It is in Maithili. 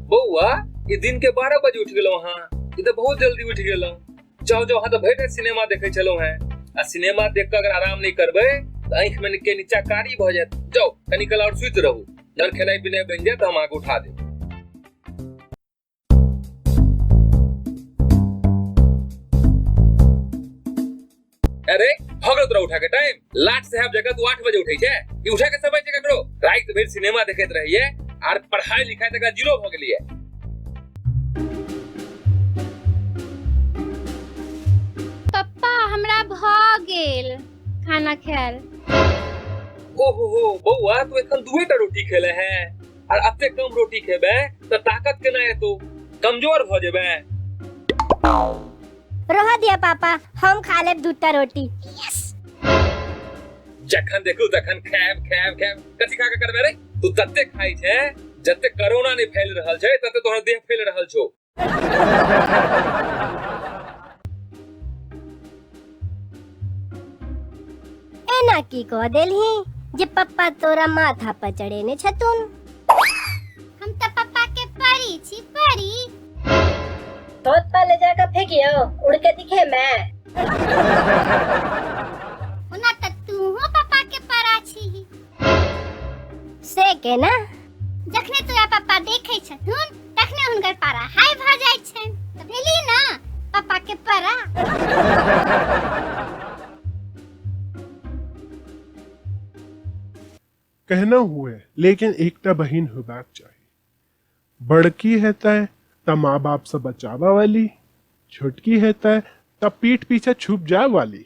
बौआ ई दिन के बारह बजे उठ गेलहुँ हाँ ई तऽ बहुत जल्दी उठ गेलहुँ जाओ जाओ हाँ तऽ भरि राति सिनेमा देखै छलहुँ हैं आ सिनेमा देख कऽ अगर आराम नहि करबै तऽ आँखि में के नीचा कारी भऽ जायत जाओ कनी काल और सुति रहू जब खेनाइ पिनाइ बनि जायत तऽ हम अहाँके उठा देब अरे भगत रहो उठा के टाइम लाट साहब जगह तू आठ बजे उठे छे ई उठा के समय जगह करो रात भर सिनेमा देखत रहिए आर पढ़ाई लिखाई तक जीरो हो गेलिए पप्पा हमरा भऽ गेल खाना खायल ओहो हो बौआ तू एखन दुए टा रोटी खेले है आ अते कम रोटी खेबे तो ताकत केना एतो कमजोर भ जेबे रह दिया पापा हम खा लेब दूटा रोटी जखन देखू तखन खाएब खाएब खाएब कथी खा के करबे रे तू तते खाई छे जते कोरोना ने फैल रहल छे तते तोहर देह फैल रहल छो एना की कह देलही जे पप्पा तोरा माथा पर चढ़े ने छथुन हम तो पापा के परी छी परी धोत पर ले जाकर फेंकियो उड़ के दिखे मैं ओना तो तू हो पापा के परा छी से के ना जखने तोरा पप्पा देखै छथुन तखने हुनकर पारा हाई भऽ जाइ छनि तऽ भेली ना पप्पा के पारा कहना हुए लेकिन एकटा बहिन होबाक चाही बड़की हेतै तऽ माँ बाप से बचाबऽ वाली छोटकी हेतै तऽ पीठ पीछे छुप जाए वाली